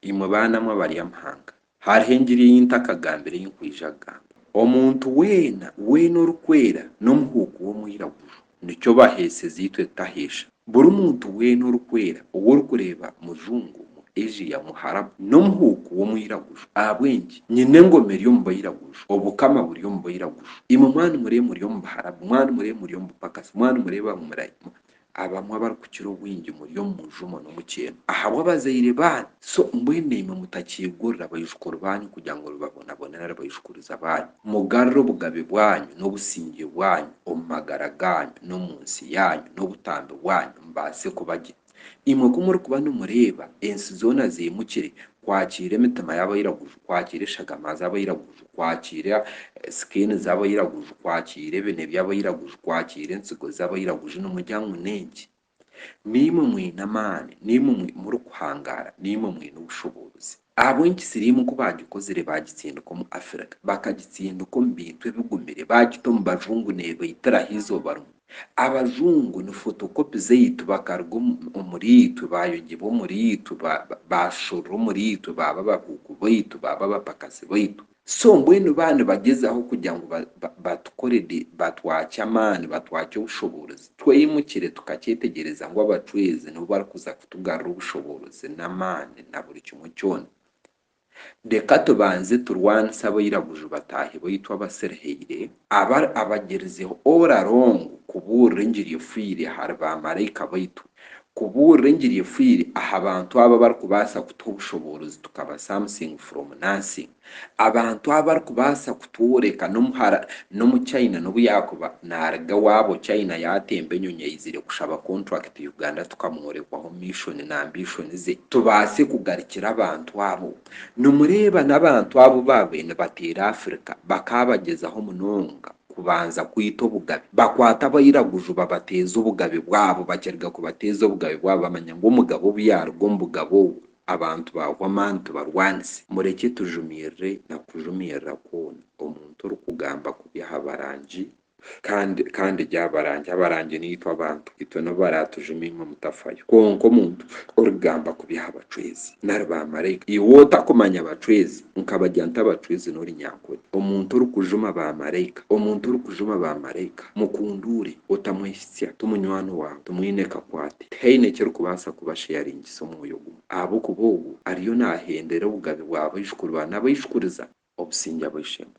Imwe baana mwe abaryamahanga, hariho engiri ei ntakagambire ei nkwija kugamba. Omuntu weena, weena orikwera n'omuhuuku w'omwiraguju, nikyo baheeseza itwe tutaheesha. Buri muntu weena orikwera ou orikureeba mujungu, mu Asia, mu Harabu, n'omuhuuku w'omwiraguju. Ahabw'enki? Nyine engoma eri omu bairaguju, obukama buri omu bairaguju. Imwe mwanumureba muri omu Baharabu, mwanumureba muri omu bupakasi, mwanumureba ngu murayi, Abamwe abarikukira obwingi muri omu mujumo n'omukyeno ahabw'abazaire baanyu, so mbwenu imwe mutakiigurira baijukuru baanyu kugira ngu mubabonabone nari baijukuriza baanyu. Mugarure obugabe bwanyu n'obusingye bwanyu omu magara gaanyu n'omu nsi yaanyu n'obutambi bwanyu mbaase kuba gye. Imwe ku murikuba nimureeba ensi zoona ziimukire kwakiira emitima y'abairaguju, kwakiira eshagama z'abairaguju, kwakiira sikeeni z'abairaguju, kwakiira ebine by'abairaguju, kwakiira entsigo z'abairaguju. Nimugira ngu n'enki? Naimwe mwine amaani, naimwe murikuhangaara, naimwe mwine obushoboozi. Ahabw'enki siriimu ku baagikozire baagitsindika omu Afirika, bakagitsindika omu bintu ebigumire, baagita omu bajungu neebaitiraho eizooba rimwe? Abazungu ni fotokopi zaitu, bakaruga omuriitwe, baayongyebwa omuriitwe, baashorora omuriitwe, baaba abahuuku baitu, baaba abapakasi baitu. So mbwenu baba nibagyezaho kugira ngu batukore di, batwakye amaani, batwakye obushoboorozi, tweyimukire tukakyetegyereza ngu abacweezi nibo barikuza kutugarura obushoboorozi n'amaani na buri kimwe kyona. Reka tubanze turwanise abairaguju bataahi baitu abasirihaire, aba abagirizeho ora rongo kubuurira engiri efoire ahari ba maraika baitu, kubuurira engiri efoire aha bantu abo abarikubaasa kutuha obushoboorozi tukaba something from nothing, abantu abo abarikubaasa Pure ka n'omuhara n'omu China n'obu yaakuba naaruga ewaabo China yaatemba enyonyi aizire kushaba kontrakiti Uganda tukamworekwaho mishoni na ambishoni ze tubaase kugarukira abantu abo. Nimureeba n'abantu abu baabaire nibateera Afrika bakaabagyezaho munonga kubanza kwita obugabe. Bakwata abairaguju babateeza obugabe bwabo bakiruga kubateeza obugabe bwabo bamanya ngu omugabe obu yaaruga omu bugabe obwo, Abantu baahwa amaani tibarwanise. Murekye tujumirire na kujumirira kwona omuntu orikugamba kubi aha barangi kandi kandi gye abarangi abarangi naitwe abantu itwe nibo baraatujuma imwe mutafayo kwonka omuntu orikugamba kubi aha bacwezi nari ba maraika iwe otakumanya bacwezi nkabagya nta abacwezi nori nyankore omuntu orikujuma ba maraika omuntu orikujuma ba maraika mukunduure otamwehitsya ti munywani waawe timwine kakwate tihaine ekirikubaasa kuba sharing kubahaanisa omwoyo gumwe, ahabw'okuba ogwo ariyo naahendera obugabe bwa baijukuru ba n'abaijukuriza obusingye ab'eishe-emwe.